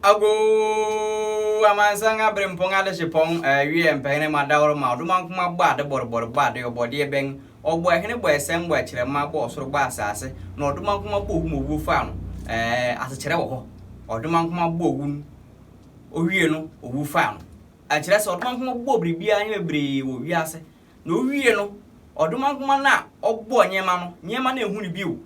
Agoo! Amansan aberempɔn adehyepɔn wiɛ mpɛhene ma daworo ma ɔdomankoma bɔ ade bɔrebɔre bɔ ade ɔbɔdeɛ bɛn ɔbɔ ɛhene bɔ ɛsɛm bɔ ɛkyerɛmma bɔ ɔsoro bɔ asaase na ɔdomankoma bɔ owu ma owuo faa no ɛɛ asekyerɛ wɔ hɔ ɔdomankoma bɔ owu no owie no owu faa no ɛkyerɛ sɛ ɔdomankoma bɔ biribiara nneɛma bebree wɔ wiase na owie no ɔdomankoma no a ɔbɔ nneɛma no nneɛma no ɛhu no bio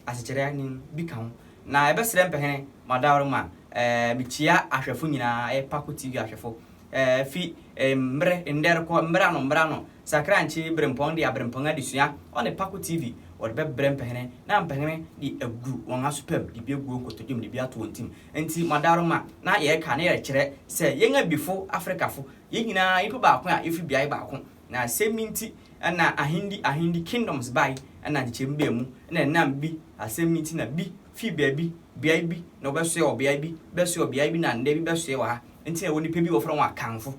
asekyerɛ ne bi ka ho. Na yɛbɛsrɛ mpɛhene ma daworo ma eh, mekyia ahwɛfo nyinaa, ɛyɛ Paco TV ahwɛfo. Eh, fi eh, mmere ndɛ rekɔ mmere ano mmere ano, Sakrankye Berempɔn de Aberempɔn Adesua ɔne Paco TV wɔde bɛbrɛ mpɛhene na mpɛhene de agu wɔn asopam de bi agu wɔn nkotodwom de bi ato wɔn tim. Nti ma daworo ma na yɛreka na yɛrekyerɛ sɛ yɛn abifo Afrikafo, yɛn nyinaa nnipa baako a yɛfiri beae baako Na asɛm yi nti na ahendi, ahendi, kingdoms, bae, ɛna nkyekyɛmu baa mu, na ɛnam bi asɛm nti na bi fii baabi, beae bi, na wɔbɛsoɛ wɔ beae bi, bɛsoɛ wɔ beae bi, na nnɛ bi bɛsoɛ wɔ ha. Nti na ɛwɔ nnipa bi a wɔfrɛ wɔn Akanfo.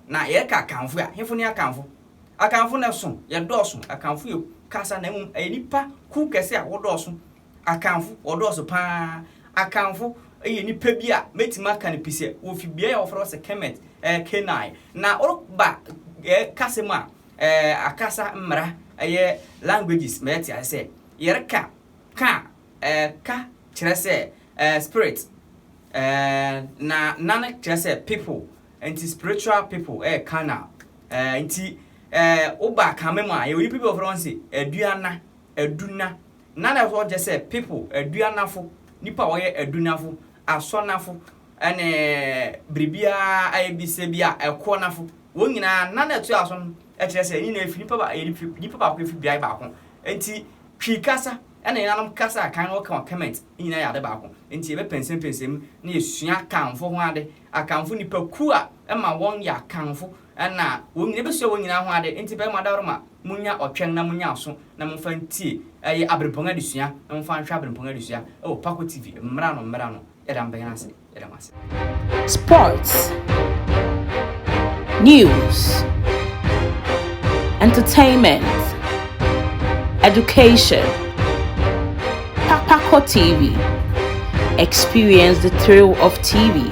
Na yɛka Akanfo a, hefo ne Akanfo? Akanfo no ɛso, yɛdɔɔso, Akanfo yɛ kasa na mmom ɛyɛ nnipa kuw kɛse a wɔdɔɔso Akanfo, wɔdɔɔso pa ara. Akanfo yɛ nnipa bi a mɛtumi aka no pi sɛ wɔfi beaeɛ a wɔfrɛ hɔ sɛ Kemet, ɛyɛ Canaan. Na woreba yɛn kasa mu a, ɛɛ akasa mmara, ɛyɛ languages, mɛyɛ te ase sɛ yɛreka ka a, ɛɛ ka kyerɛ sɛ ɛɛ spirit, ɛɛ na nan kyerɛ sɛ people, nti spiritual people ɛyɛ Canaan. Ɛɛ nti ɛɛ woba Akame mu a, yɛwɔ nnipa bi a wɔfrɛ wɔn sɛ Aduana, adunna, na na ɛhɔ kyerɛ sɛ people, aduannafo, nnipa a wɔyɛ adunnafo, asɔnnafo, ne biribiara ayɛ bi sɛ bi a ɛkoɔnafo. Wɔn nyinaa, na na ɛtoa so no kyerɛ sɛ nyinaa efi nipa ba, nipa baako efi beae baako. Nti Twi kasa na yɛnanom kasa a kan no wɔka wɔ Kemet ne nyinaa yɛ ade baako. Nti yɛbɛpɛnsɛmpɛnsɛ mu na yɛsua Akanfo ho ade. Akanfo nnipakuo a ɛma wɔn yɛ Akanfo Nna wɔn nyina bɛsua wɔn nyinaa ho ade, nti bɛma dawroma monnya ɔtwɛn na monnya aso na momfa ntie ɛyɛ aberempɔn adesua na momfa nhwɛ aberempɔn adesua ɛwɔ Paco TV mmra no mmra no yɛda mo bɛn ase yɛda mo ase. Sports, news, entertainment, education, Paco TV, experience the thrill of TV.